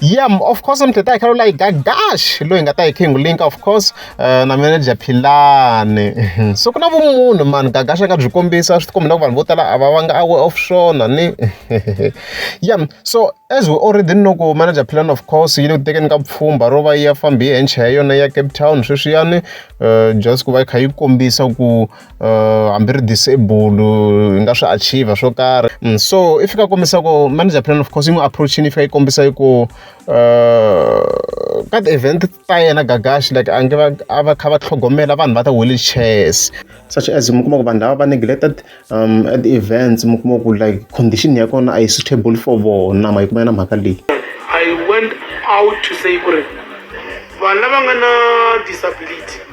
yeah of course mthetha khe like that dash loyi nga ta hi king link of course uh, na manager philani so ku na vumunhu mani gagasha nga byi kombisa swi tikombi na ku vanhu vo tala a va va nga awe off swona ni yeah so as we already know ku manager philani of course yi le ku tekeni ka pfhumba ro va yi ya fambi hi henche hi yona ya cape town sweswiyani uh, just ku va yi kha yi kombisa ku uh, hambi ri disable hi nga swi achieve swo karhi mm, so i fika kombisa ku manager plan of course yi n'wi approachini yi fika yi kombisa yi ku uh, ka ti-event ta yena gagashi like a nge a va kha va tlhogomela vanhu va ta wheelchairs such as mi kuma ku vanhu lava va neglected um, at the events mi kuma ku like condition ya kona a yi suitable for vona ma yi kuma yena mhaka leyi i went out to say ku ri vanhu lava nga na disability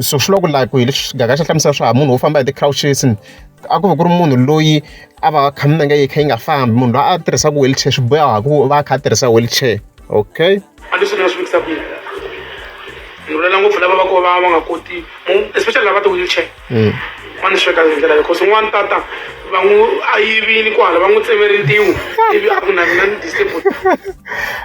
so swi loko like hi leswi gaga xa hlamusela swa munhu wo famba hi ti-crouches a ku va ku ri munhu loyi a va kha minenge yi kha yi nga fambi munhu loyi a tirhisaka wheelchair swi boya hi ku va a kha a tirhisa wheelchair okay a leswi ni nga swi vekisa ku ni vulela ngopfu lava va ko va va nga koti especially lava ti-wheelchair mm. va ni sweka hi ndlela leyi cause n'wana tata va n'wi a yivini kwala va n'wi tsemeri ntiwu ivi a ku na mina ni disable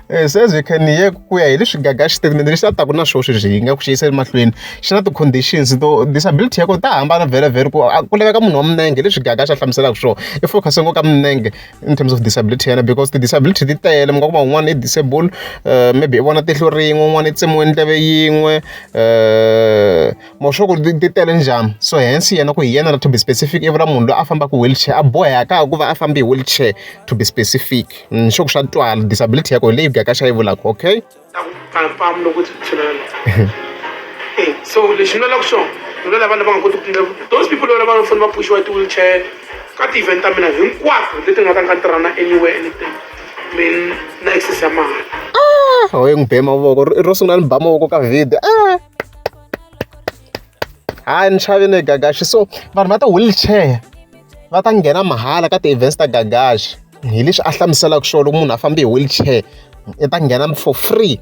eh, se ze can ye ku ya hi leswi gaga xitatimende lexi a taku na swo sweswi hi nga ku xiyisa emahlweni xi na ti-conditions to disability ya kona ta hambana vhele vhele ku ku laveka munhu wa minenge leswi gaga xa hlamuselaka swona i focuse ngo ka minenge in terms of disability yana because ti-disability ti tele mi nga kuma un'wana i disable uh, maybe i vona tihlo rin'we un'wana i tsemiwe ndleve yin'we um mo swa ku ti tele njhani so hence yena ku hi yena la to be specific i vula munhu loyi a fambaka wheelchair a boheka ku va a fambe hi wheelchair to be specific ni mm, swa ku swa twala disability yako hi leyi byaka xa yi vulaka okay eh, so lexi ni lalaka xona ni lola vanhu lava nga koti ku tindla those people lola va fanele va pushiwa ti-wheelchair ka ti-event ta mina hinkwato leti nga ta nga tirhana anywhere anything min na access ya mahala ah, hoye n'wi be mavoko ro sungula ni ba mavoko ka video ah. hayi ni xave ne gagaxi so vanhu va ti-wheelchair va ta nghena mahala ka ti-events ta gagaxi hi leswi a hlamuselaka swona loko munhu a fambe hi wheelchair i ta nghena for free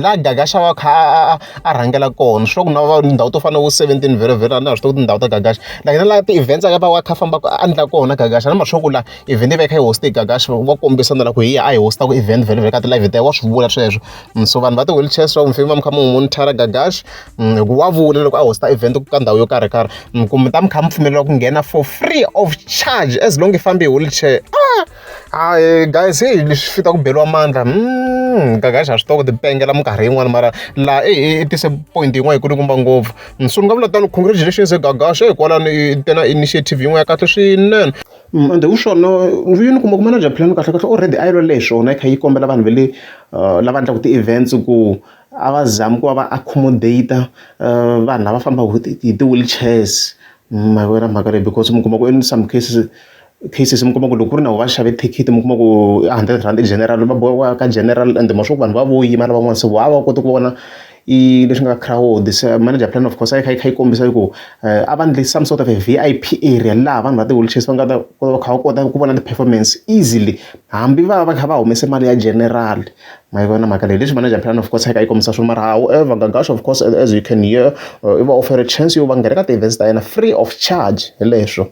la gagaxa wa kha a a rhangela kona swi na va ndhawu to fana na vo seventeen vhele vhele a na ha swi tiva tindhawu ta gagaxa like na la ti-events a ka va wa kha fambaka a endla kona gagaxa na mashoku la event yi va yi kha yi hoste gagaxa wa kombisa na la ku hi ya a hi hosta ku event vhele vhele ka ti-live ta wa swi vula sweswo mm, so vanhu va ti-wheelchair swa mufemi va mi kha mi n'wi monitora gagash mm, hi ku wa vula loko a hosta event ka ndhawu yo karhi karhi mm, kumbe ta mi kha mi pfumelela ku nghena for free of charge as long i fambi hi wheelchair ah, hayi guys heyi leswi fita ku beliwa mandla gagash a swi toko tipengela minkarhi yin'wana mara laha e, e, i tise point yin'wana yi kulukumba ngopfu so ni nga vula tano congratulations gagash hikwalano i tena initiative yin'wana ya kahle swinene Ende wu swona vuyini u kuma ku manager plan kahlekahle already a yi lwela hi swona yi kha yi kombela vanhu va le lava endlaka ti-events ku a va zami ku va va accommodate vanhu lava fambaka hi ti hi ti-wheelchairs ma yi vona mhaka leyi because mi kuma ku in some cases cases mi kuma ku loko ku ri na va xave thikithi mi kuma ku hundred rand i general va boha ku ya ka general ende ma swa ku vanhu va vo yima lavan'wana se voho a va koti ku vona. I leswi nga crowd se manager plan of course a yi kha yi kha yi kombisa ku a va endle some sort of a V_I_P area laha vanhu va ti-wheelchair va nga ta va kha va kota ku vona ti-performance easily hambi va va kha va humese mali ya general ma yi vona mhaka leyi. Hi leswi manager plan of course a yi kha yi kombisa swona mara however Gagash of course as you can hear i va offer chance yo va nghena ka ti-events ta yena free of charge hi leswo.